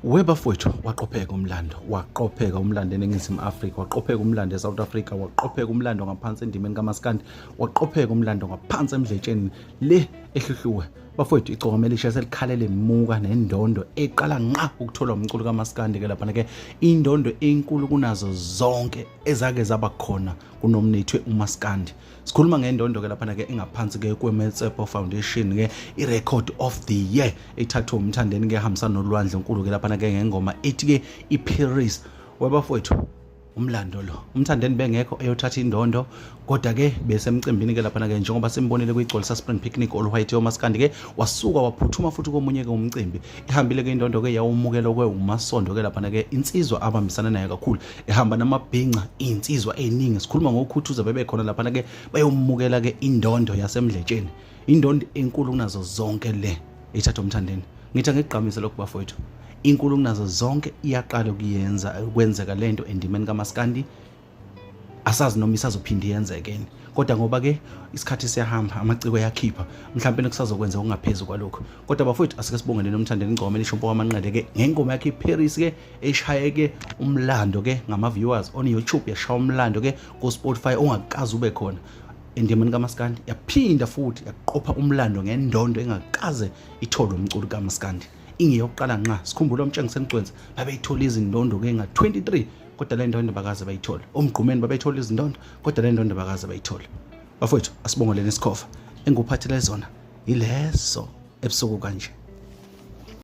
webafowethu waqopheka umlando waqopheka umlando eningizimu afrika waqopheka umlando esouth africa waqopheka umlando ngaphansi endimeni kamaskandi waqopheka umlando ngaphansi emdletsheni le ehluhluwe bafowethu icokomelisha selikhalele muka nendondo eqala nqa ukuthola umculo kamaskandi ke laphana ke indondo enkulu kunazo zonke ezake zaba khona kunomnethwe umaskandi sikhuluma ngendondo ke laphana ke engaphansi ke kwemetsepo foundation ke i-record of the year ethathwe umthandeni ke hambisana nolwandle nkulu ke laphana ke ngengoma ethi ke iparis webafowethu umlando lo umthandeni bengekho eyothatha indondo kodwa ke besemcimbini ke laphana ke njengoba simbonile kuyigcwalisa spring picnic oluhayithe omaskandi ke wasuka waphuthuma futhi komunye ke umcimbi ihambile ke indondo ke yawumukela kwe umasondo ke laphana ke insizwa abambisana nayo kakhulu ehamba namabhinca iy'nsizwa ey'ningi sikhuluma ngokhuthuza bebekhona laphana-ke bayomukela-ke indondo yasemdletsheni indondo enkulu kunazo zonke le ithatha umthandeni ngithi angikugqamise lokhu bafowethu inkulu kunazo zonke iyaqala ukuyenza kwenzeka le nto endimeni kamaskandi asazi noma isazophinde yenzekeni kodwa ngoba ke isikhathi siyahamba amaciko yakhipha mhlawumbe nekusazokwenza okungaphezulu kwalokho kodwa bafowethu asike sibongeleni umthandeni ingoma elisho mpoka amanqele ke ngengoma yakhe iParis ke eshaye ke umlando ke ngama viewers on YouTube yashaya umlando ke ku Spotify ongakazi ube khona endimeni kamaskandi yaphinda futhi yaqopha umlando ngendondo engakaze ithole umculo kamaskandi ingeyokuqala nqa sikhumbula umtshengise emgcwenzi babeyithola izindondo ke nga 23 kodwa le ndondo bakaze bayithole omgqumeni babeyithola izindondo kodwa le ndondo bakaze bayithole bafowethu asibongoleni isikhofa engikuphathele zona yileso ebusuku kanje